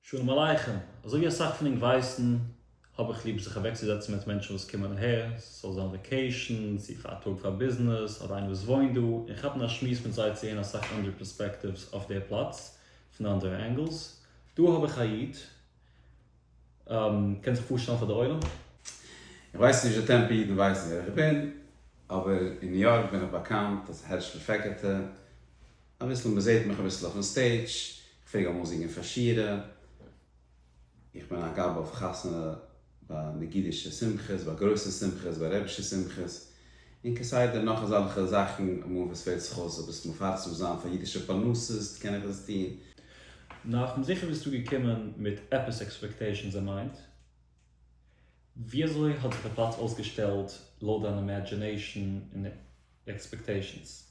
שלום עליכם, אזוי ווי אסאך פון ענק ווייסן האב איך ליב זיך אוועקצוזעצן מיט מענטשן וואס קומען אהער, ס'זאל זיין וואקעישן, צו פאר א טאג פאר ביזנעס, אדער איינער וואס וואוינט דא, און כאפן א שמועס מיט זיי צו הערן אסאך אנדערע פערספעקטיווס אויף דער פלאץ, פון אנדערע ענגעלס. דא האב איך א איד, קענסט זיך פארשטעלן פאר דער עולם? איך ווייס נישט די טעמפא אידן ווייסן ווער איך בין, אבער אין ניו יארק בין איך באקאנט אלס הערשלע פעקעטע, אביסל מ'זעט מיך אביסל אויפן סטעידזש, כ'פלעג אמאל זינגען פאר שירה, איך בין א גאב אויף חתונה ביי נגידישע שמחות, ביי גרויסע שמחות, ביי רבישע שמחות, און כסדר נאך אזאלכע זאכן, אמאל וואס פעלט זיך אויס עפעס מפרסם זיין פאר אידישע פרנסות, קען איך עס טון. נאכ'ן זיכער ביסטו געקומען מיט עפעס עקספעקטעישאנס אין מיינד, וויאזוי האט זיך די פלאץ אויסגעשטעלט לויט דיין אימעדזשינעישאן און עקספעקטעישאנס?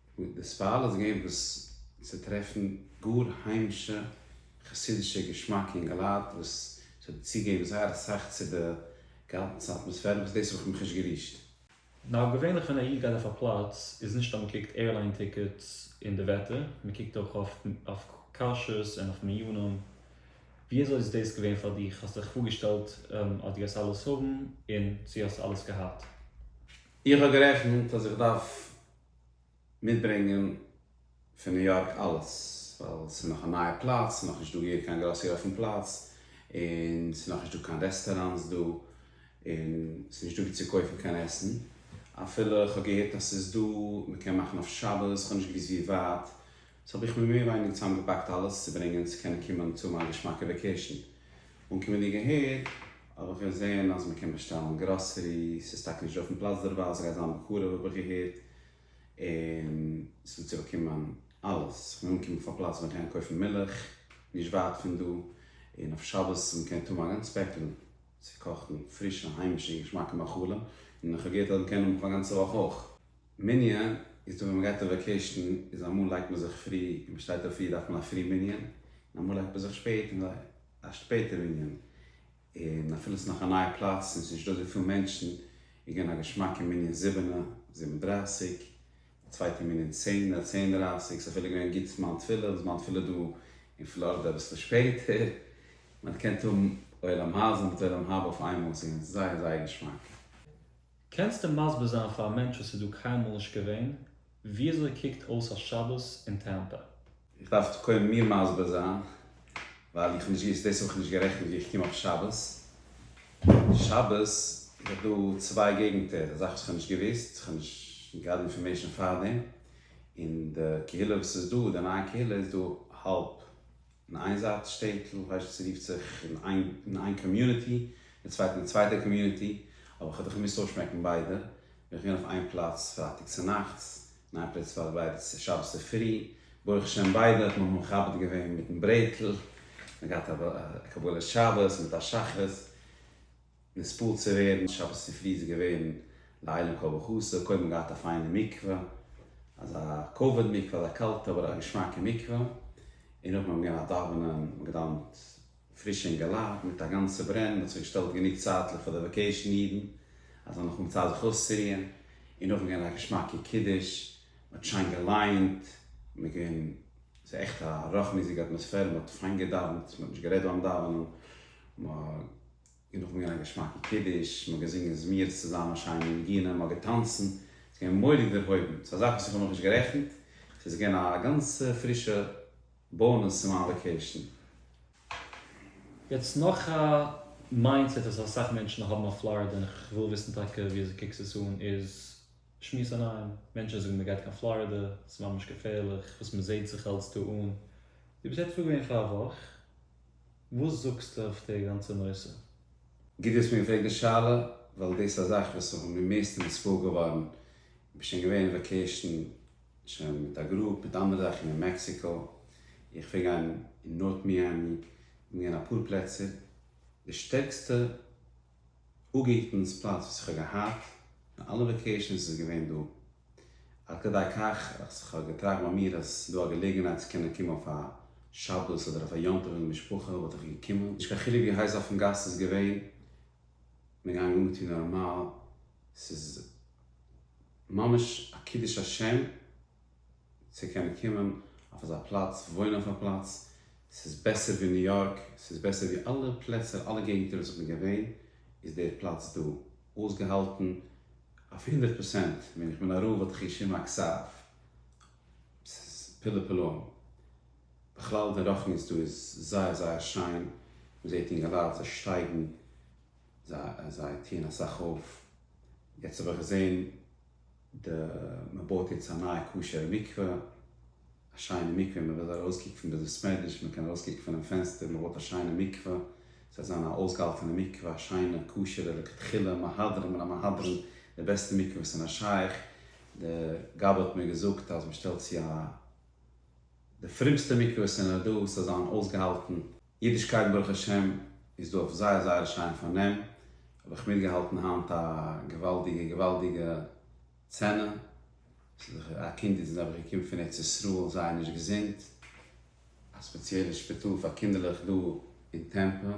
וואו די ספעל איז געווען וואס צו טרעפן גאר היימישע חסידישע געשמאקע אינגע לייט וואס ס'האט צוגעגעבן זייער אסאך צו די גאנצע אטמאספערע וואס דאס האב איך מיך נישט גערישט. נאר געווענליך ווען א איד גייט אויף א פלאץ איז נישט אז מ'קוקט עירליין טיקעטס און די וועטער, מ'קוקט אויך אויף כשרות און אויף מנינים. וויאזוי איז דאס געווען פאר דיר? האסט דיך פארגעשטעלט אז דו גייסט אלעס האבן און צו האסט אלעס געהאט? איך האב גערעכנט אז איך דארף מיטברענגען פון ניו יארק אלעס, ווייל ס'איז נאך א נייע פלאץ, ס'איז נאכנישט דא געווען קיין גראסערי אויפן פלאץ, און ס'איז נאכנישט דא קיין רעסטעראנטס דא, און ס'איז נישט דא ווי צו קויפן קיין עסן, אפילו כ'האב געהערט אז ס'איז דא, מ'קען מאכן אויף שבת, כ'האב נישט געוואוסט ווי ווייט, סאו האב איך מיר מער ווייניגער צוזאמגעפאקט אלעס צו ברענגען צו קענען קומען צו מיין געשמאקע וועקעישן, און כבין געהערט האב איך געזעהן אז מקען באשטעלן גראסערי, סאיז טאקע נישט דא אויפן פלאץ דערווייל, סגייט זיין בקרוב האב איך געהערט, און סוועט צוריק קומען אלעס, כבין אנגעקומען אויף א פלאץ ווי מקען קויפן מילך נישט ווייט פון דא, און אויף שבת מקען טועם א גאנץ פעקל צו קאכן פרישע היימישע און געשמאקע מאכלים, און כהאב געהערט אז מקען האבן פאר א גאנצע וואך אויך. מנין איז דא ווען מ'גייט אויף וועקעישן איז אמאל לייגט מען זיך פרי און מ'שטייט אויף פרי דארף מען א פרי מנין און אמאל לייגט מען זיך שפעט און א שפעטע מנין און אפילו ס'נאך א נייע פלאץ און ס'נישט דא אזויפיל מענטשן איז געווען א געשמאקע מנין זיבענע, זיבן דרייסיג, די צווייטע מנין צענע, צען דרייסיג, ס'איז אפילו געווען גוט זמן תפילה וואס זמן תפילה דא אין פלארידע אביסל שפעטער, מ'האט געקענט האבן עולם הזה מיט עולם הבא אויף איינמאל, ס'איז געווען זייער זייער געשמאק. קענסטו מסביר זיין פאר א מענטש וואס איז דא קיינמאל נישט געווען וויאזוי קוקט אויס א שבת אין טעמפא? איך דארף קודם מיר מסביר זיין ווייל איך האב נישט געוואוסט דאס האב איך נישט גערעכנט ווי איך קום אויף שבת שבת איז דאך דא צוויי געגענטער א זאך וואס איך האב נישט געוואוסט איך האב נישט געהאט די אינפארמעישאן פארדעם און די קהילה וואס איז דא די נייע קהילה איז דא האלב אין איין זייט שטעטל הייסט עס רופט זיך אין אין איין קאמיוניטי אין צווייטן אין צווייטע קאמיוניטי אבער כ'האב דאך געמוזט אויסשמעקן ביידע בין איך געווען אויף איין פלאץ פרייטאג צונאכטס אין איין פלעץ פארביידע שבת צופרי ברוך השם ביידע האט מען מכבד געווען מיטן ברעטל מ'האט געהאט א קבלת שבת מיט א שחרית. נספּאָרט צו ווערן. שבת צופרי איז געווען לעילוי כל בחסר, קודם געהאט א פיינע מקווה, אזא כבוד מקווה, אזא קאלטע אבער א געשמאקע מקווה, און נאכדעם האט מען געגעבן א דאווענען, מען האט געדאוונט פריש און געלאט, מיט א גאנצע ברען, מען האט זיך געשטעלט גענוג צייטליך פאר די וואקעישן אידן, אז זיי האבן נאכדעם צייט זיך אויסצורוען, און נאכדעם געווען א געשמאקע קידוש, מען האט שיין געליינט, מען איז געווען, ס'איז עכט א רחמיות'דיגע אטמאספערע, מען האט פיין געדאוונט, מען האט נישט גערעדט ביים דאווענען, מ'הא. און נאכן געהאבן א געשמאקן קידוש, מ'האט געזינגען זמירות צוזאמען, שיינע ניגונים, מ'האט געטאנצן, ס'איז געווען מורא'דיג דערהויבן, ס'איז א זאך וואס איך האב נאכנישט גערעכנט, ס'איז געווען א גאנצע פרישע באונעס צו מיין וואקעישן. יעצט נאך א מיינדסעט וואס אסאך מענטשן האבן אויף פלארידע, און איך וויל וויסן טאקע ווי אזוי קוקסט עס אן, איז שמועסעניים, מענטשן זאגן מ'גייט קיין פלארידע, ס'איז ממש געפערליך, וואס מ'זעהט זיך אלץ דא אן, דו ביסט עטוואו געווען פאר א וואך? וואס זאגסטו אויף די גאנצע נושא? גוט דו האסט מיר געפרעגט די שאלה, ווייל דאס איז א זאך וואס איך בין בין מערסטע נספוג געווארן, איך בין שוין געווען אין וואקעישן שוין מיט א גרופ מיט אנדערע זאכן אין מעקסיקא, איך פלעג גיין אין נארט מיאמי, איך בין געווען אין אפאר פלעצער, די שטערקסטע אפגעהיטנס פלאץ וואס איך האב געהאט אין אלע וועקעישאנס איז געווען דא, עד כדי כך אז איך האב געטראכט ביי מיר אז ס'איז דא א געלעגנהייט צו קענען קומען אויף א שבת אדער אויף א יום טוב אין די משפחה וואלט איך געקומען, נישט קיין חילוק ווי הייס אויפן גאס ס'איז געווען, כ'בין געגאנגען אנגעטון נארמאל, ס'איז ממש א קידוש השם צו קענען קומען אויף אזא פלאץ, וואוינען אויף א פלאץ, ס'איז בעסער ווי ניו יארק, ס'איז בעסער ווי אלע פלעצער, אלע געגנטער וואס איך בין געווען, איז דער פלאץ דא אויסגעהאלטן אויף הונדערט פראצענט, ווען איך בין אראל וואלט איך געשריבן א כסף, ס'איז פלא פלאים, בכלל די רוחניות דא איז זייער זייער שיין, מ'זעט אינגעלייט זיי שטייגן, זיי טוען אסאך אויף, יעצט האב איך געזען די מען בויט יעצט א נייע כשר'ע מקווה, א שיינע מקווה, מען וויל ארויס קוקן פון בית המדרש, מען קען ארויס קוקן פונעם פענסטער, מען בויט א שיינע מקווה, ס'וועט זיין א אויסגעהאלטענע מקווה, א שיינע כשר'ע לכתחילה, מהדרין מן המהדרין, די בעסטע מקווה וואס איז נאר שייך, די גבאי האט מיר געזאגט אז מען שטעלט צו א. די פרומסטע מקוואות אין אר ד וואס האט זיין אויסגעהאלטן אידישקייט ברוך השם איז דא אויף זייער זייער שיין פארנעם האב איך מיטגעהאלטן היינט א געוואלדיגע געוואלדיגע סצענע א קינד איז נעבעך געקומען פון ארץ ישראל זייער נישט געזונט א ספעציעלע שפיטאל פאר קינדערלעך דא אין טעמפא.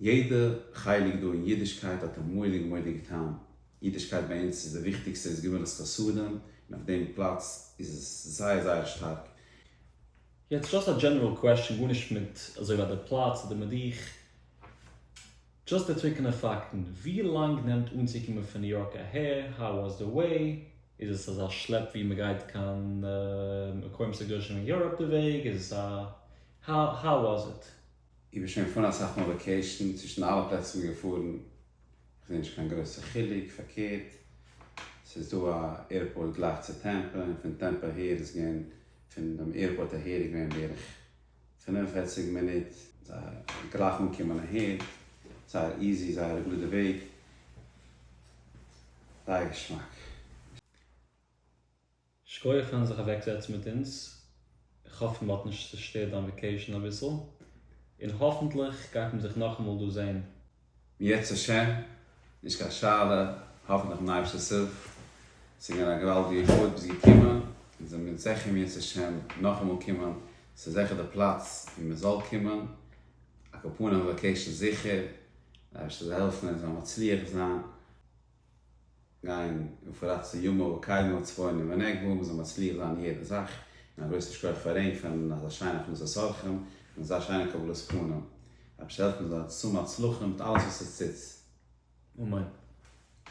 יעדע חלק דא אין אידישקייט האט א מויליג מויליג טעם, אידישקייט ביי אונז איז די וויכטיגסטע איז גמילות חסדים, און אויף דעם פלאץ איז עס זייער זייער שטארק. יעצט דשאסט א דזשענעראל קוועסטשען גארנישט מיט אזוי ווי די פלאץ אדער מיט דיך, דשאסט די טרוקענע פאקטן, ווי לאנג נעמט אנצוקומען פון ניו יארק אהער, האו וואס די וועי, איז עס אזא שלעפ ווי מען גייט קיין מקומות הקדושים אין יוראפ די וועג, איז עס א, האו וואס איט. איך בין שוין געפארן אסאך מאל וואקעישן, צווישן אלע פלעצער איך בין געפארן, איך זעה נישט קיין גרויסע חילוק, פארקערט, ס'איז דא א עירפארט גלייך צו טעמפא, און פון טעמפא אהער איז געווען, פון דעם עירפארט אהער איז געווען בערך פֿינף און פֿערציק מינוט, זייער גלייך אנקומען אהער, זייער איזי, זייער א גראדע וועג, זייער געשמאק. שקויעך פארן זיך אוועק זעצן מיט אונז, איך האף מ'האט נישט צושטערט דיין וועקעישן אביסל, און האפענטליך גייט מען זיך נאכאמאל דא זעהן. יעצר ש, נישט קיין שאלה, האפענטליך מיט אייבערשטעס הילף, ס'איז געווען א געוואלדיגע כבוד ביסט געקומען, אונז זעמיר זיכער אם ירצה ש נאכאמאל קומען, ס'איז זיכער די פלאץ ווי מ'זאל קומען, א קאפאנעווע וועקעישן זיכער, אייבערשטער זאל העלפן אונז זאל מצליח זיין. גיין און פארראט צו יומא וקיימא צפוני ונגבה, מ'זאל מצליח זיין אין יעדע זאך, און א גרויסן שכח פאר רעים פארן אזא שיינע הכנסת אורחים, און אזא שיינע קבלת פנים, אבער זאל עס העלפן זיין צום הצלחה מיט אלעס וואס עס טוט. אמן.